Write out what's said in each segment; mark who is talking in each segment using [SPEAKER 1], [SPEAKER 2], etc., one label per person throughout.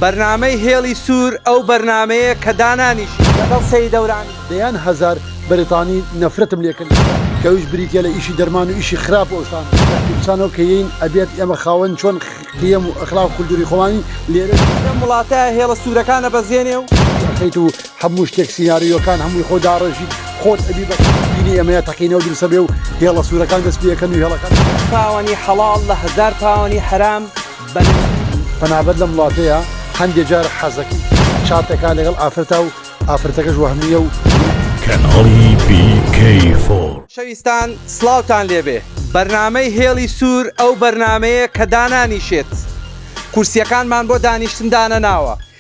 [SPEAKER 1] بەرنامەی هێڵی سوور ئەو بەرنامەیە کە دانانیشی لەگەڵ سەید دەوران. دەیان هەزار
[SPEAKER 2] بەریتانی نەفرەتم لێ کردن کەویش بریتیە لە ئیشی دەرمان و ئیشی خراپ و ئەوشتانە کاتی بچانەوە کە یەین ئەبێت ئێمە خاوەن چۆن قیەم و ئەخلاق و کلتوری خۆمانی لێرە لەم وڵاتە
[SPEAKER 1] هێڵە سورەکان ئەبەزێنێ و. ئەخەیت و
[SPEAKER 2] هەموو شتێک سیناریۆکان هەمووی خۆ داڕێژیت خۆت ئەبی بە دینی ئێمەیە تەقینەوە دروستە بێ و هێڵە سورەکان دەست پێ ئەکەن و هێڵەکان. پاوانی حەڵاڵ
[SPEAKER 1] لە هەزار پاوانی حەرام. بەلێ
[SPEAKER 2] پەنابەر لەم وڵاتەیە هەندێ جار حەزەکەی چاتەکە لەگەڵ ئافرەتا و ئافرەتەکەش وەهمییە و کەناڵی
[SPEAKER 3] BK فۆر. خۆشەویستان
[SPEAKER 1] سڵاوتان لێبێ بەرنامەی هێڵی سوور ئەو بەرنامەیە کە دانانیشێت کورسیەکانمان بۆ دانیشتن دانەناوە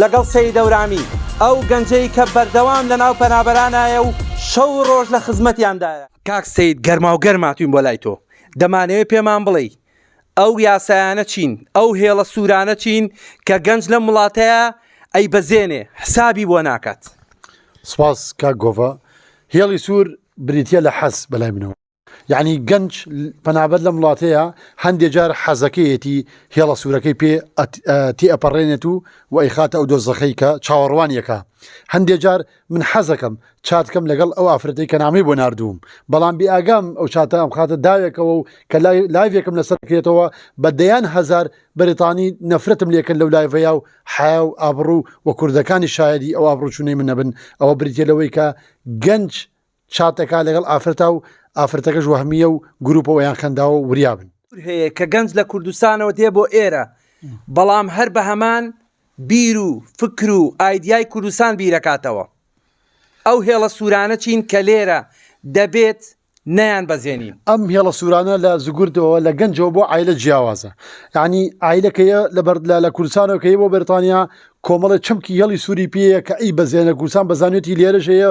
[SPEAKER 1] لەگەڵ سەید دەورامی، ئەو گەنجەی کە بەردەوام لەناو پەنابەرانایە و شەو و ڕۆژ لە خزمەتیاندایە. کاک سەید گەرماوگەرم هاتووین بۆ لای تۆ، دەمانەوێت پێمان بڵێی ئەو یاسایانە چین، ئەو هێڵە سوورانە چین کە گەنج لەم وڵاتەیا ئەیبەزێنێ، حسابی بۆ ناکات؟ سپاس
[SPEAKER 2] کاک گۆڤە. هێڵی سوور بریتییە لە حەز بەلای منەوە. یەعنی گەنج پەنابەر لەم وڵاتەیە هەندێک جار حەزەکەیەتی هێڵە سوورەکەی پێ تی ئەپەڕێنێت و و ئەیخاتە ئەو دۆزەخەی کە چاوەڕوانیەکە هەندێک جار من حەزەکەم چاتکەم لەگەڵ ئەو ئافرەتی کە نامی بۆ نردووم بەڵام بێ ئاگام ئەو چاتە ئەم خاتە داوێکەوە و کە لایڤێکم لەسەر کرێتەوە بە دەیان هزار بەریتانی نەفرەتم لێکن لەو لایڤەیە و حیا و ئابڕوو و کوردەکانی شایدی ئەو ئابڕوچونەی من نەبن ئەوە بریتە لەوەی کە گەنج چات دەکات لەگەڵ ئافرەتا و ئافرەتەکەش وەهمیە و گروپەوە یان خەنداوە وریابن. هەیە کە گەنج لە
[SPEAKER 1] کوردستانەوە دێ بۆ ئێرە بەڵام هەر بە هەمان بیر و فکر و ئایدیای کوردستان بیرەکاتەوە ئەو هێڵە سوورانە چین کە لێرە دەبێت نیان بەزێنین ئەم هێڵە سوورانە
[SPEAKER 2] لە زگردەوە لە گەنجەوە بۆ ئایلە جیاوازە ینی ئایلەکەیە لە بەردلا لە کوردستانەوەکەی بۆ بەرتانیا کۆمەڵە چمکی هێڵی سووری پێەیە کە ئەی بەزێنە کوردستان بەزانێتی لێرەژەیە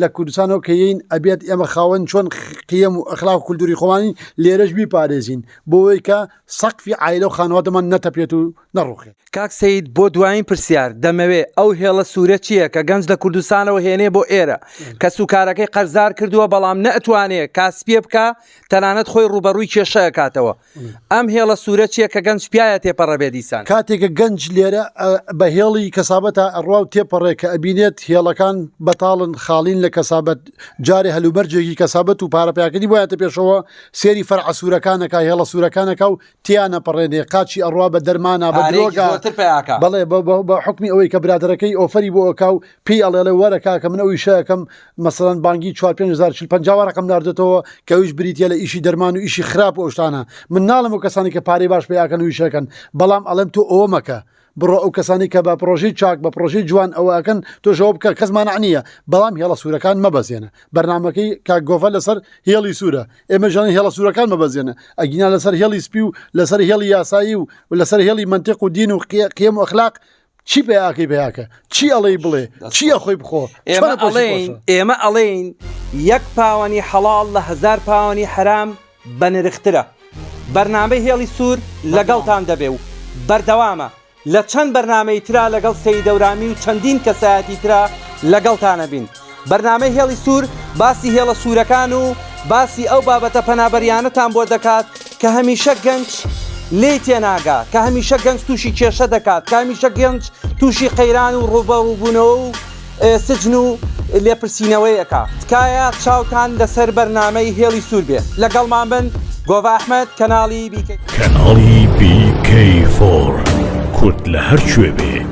[SPEAKER 2] لە کوردستانەوە کە یەین ئەبێت ئێمە خاوەن چۆن قیەم و ئەخلاق و کولتوری خۆمانی لێرەش بیپارێزین بۆەوەی کە سەقفی عیلە و خانوادەمان نەتەپێت و نەڕوخێت. کاک سەید بۆ
[SPEAKER 1] دوایین پرسیار دەمەوێ ئەو هێڵە سورە چیە کە گەنج لە کوردستانەوە هێنێ بۆ ئێرە کەس و کارەکەی قەرزار کردوە بەڵام نەئەتوانێ کاسپیە بکا تەنانەت خۆی ڕوبەڕوی کێشە ئەکاتەوە ئەم هێڵە سوورە چیە کە گەنج پیاە تێپەڕە بێ دیسان. کاتێکە گەنج لێرە
[SPEAKER 2] بە هێڵی کەسابەتا ئەڕوا و تێپەڕێ کە ئەبینێت هێڵەکان بەتاڵن خاڵین لە کەسابەت جارێ هەلومەرجێکی کەسابەت و پارە پیاکردنی بۆ یاتە پێشەوە سێری فەرعە سوورەکانەکا هێڵە سوورەکانەکا و تیانە پەڕێنێ قاچی ئەڕوا بە دەرمانا بە درۆگا بەڵێ بە حکمی ئەوەی کە برادەرەکەی ئۆفەری بۆ ئەکا و پێی ئەڵێ ئەڵێ وەرە کاکە من ئەو ئیشەکەم مەسەن بانگی 4550 ڕقم نردێتەوە کەویش بریتە لە ئیشی دەرمان و ئیشی خراپ و ئەوشتانە من ناڵم و کەسانی کە پارەی باش پیاکەن و ئیشەکەن بەڵام ئەڵێم تۆ ئەوە مەکە بڕۆ ئەو کەسانی کە بە پرۆژەی چاک بە پرۆژەی جوان ئەوەکەن تۆشەوە بکە کەس مانعنیە بەڵام هێڵە سوورەکان مەبەزێنە بەرنمەکەی کا گۆڤە لەسەر هێڵی سوورە ئێمە ژەن هێڵە سوورەکان مەبەزێنە ئەگینا لەسەر هێڵی سپی و لەسەر هێڵی یاسایی و لەسەر هێڵی منتیق و دین و قێم و ئەخلاق چی پێیاکەی پێیاکە چی ئەڵێی بڵێ چیە خۆی بخۆ ئێمە ئەڵێین ئێمە
[SPEAKER 1] ئەڵێین یەک پاوەنی حەڵال لە هزار پاوەنی حرام بە نرخترە بەرنامەی هێڵی سوور لەگەڵتان دەبێ و بەردەوامە لە چەند بەرنمەی تررا لەگەڵ سەیدەورامی و چەندین کەسایەتی تررا لەگەڵتانە بین. بەرنامەی هێڵی سوور باسی هێڵە سوورەکان و باسی ئەو بابەتە پەنابەرییانەتان بۆ دەکات کە هەمیشە گەنج لێی تێناگا، کە هەمیشە گەنج تووشی کێشە دەکات، کە هەمیشە گەنج تووشی قەیران و ڕووبەڕووبوونەوە و سجن و لێپرسینەوەیەکە. تکایە چاوتان لەسەر بەرنامەی هێڵی سوور بێ. لەگەڵمان بن، گۆڤە ئەحمەد، کەناڵی بیکەی. کەناڵی بیکەی
[SPEAKER 3] فۆر کورد لە هەر کوێ بێ.